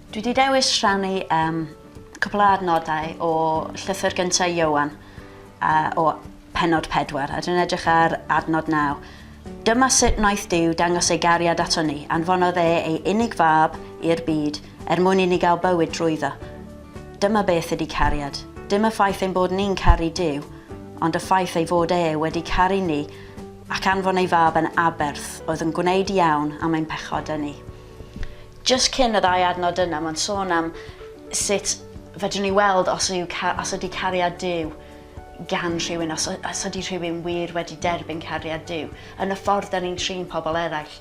Dwi wedi dewis rhannu um, cwbl o adnodau o llythyr gyntaf Iowan uh, o penod 4 a dwi'n edrych ar adnod 9. Dyma sut wnaeth Duw dangos ei gariad aton ni, anfonodd e ei unig fab i'r byd er mwyn i ni gael bywyd drwyddo. Dyma beth ydy cariad. Dim y ffaith ein bod ni'n caru Duw, ond y ffaith ei fod e wedi caru ni ac anfon ei fab yn aberth oedd yn gwneud iawn am ein pechodau ni. Jyst cyn y ddau adnod yna mae'n sôn am sut fedrwn ni weld os yw os ydy cariad Duw gan rhywun, os, os ydy rhywun wir wedi derbyn cariad Duw, yn y ffordd da ni'n trin pobl eraill.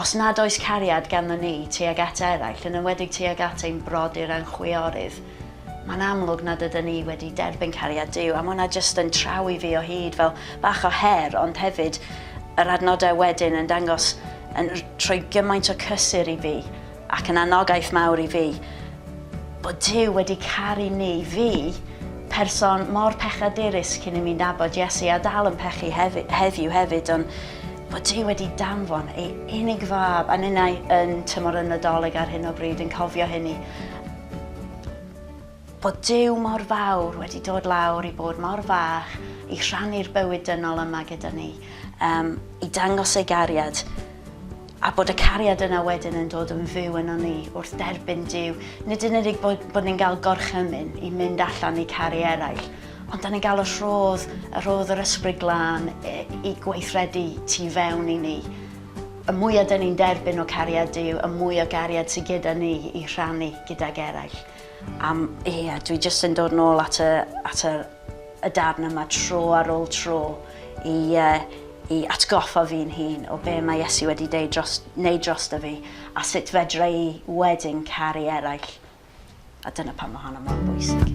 Os nad oes cariad ganddo ni tuag at eraill, yn enwedig tuag at ein brodyr a'n chwiorydd, mae'n amlwg nad ydyn ni wedi derbyn cariad Duw, a mae hwnna jyst yn traw i fi o hyd fel bach o her, ond hefyd yr adnodau wedyn yn dangos, yn rhoi gymaint o cysur i fi, Ac yn anogaeth mawr i fi, bod Duw wedi caru ni, fi, person mor pechadurus cyn i mi nabod Iesu a dal yn pechu hefi, heddiw hefyd, ond bod Duw wedi danfon ei unig fab, a ninnau yn tymor y Nadolig ar hyn o bryd yn cofio hynny. Bod Duw mor fawr wedi dod lawr i bod mor fach i rhannu'r bywyd dynol yma gyda ni, um, i dangos ei gariad, a bod y cariad yna wedyn yn dod yn fyw yno ni wrth derbyn Dyw. Nid yn unig bod, bod ni'n cael gorchymyn i mynd allan i caru eraill, ond da ni'n cael y rhodd, y rhodd yr ysbryd glân e, i gweithredu tu fewn i ni. Y mwyaf da ni'n derbyn o cariad Dyw, y mwy o gariad sydd gyda ni i rhannu gydag eraill. Am, ie, dwi jyst yn dod nôl at y, at y, y darn yma tro ar ôl tro i, uh, i atgoffa fi'n hun o be mae Iesu wedi deud dros, neud dros da fi a sut fedra i wedyn caru eraill. A dyna pan mae hwnna mor bwysig.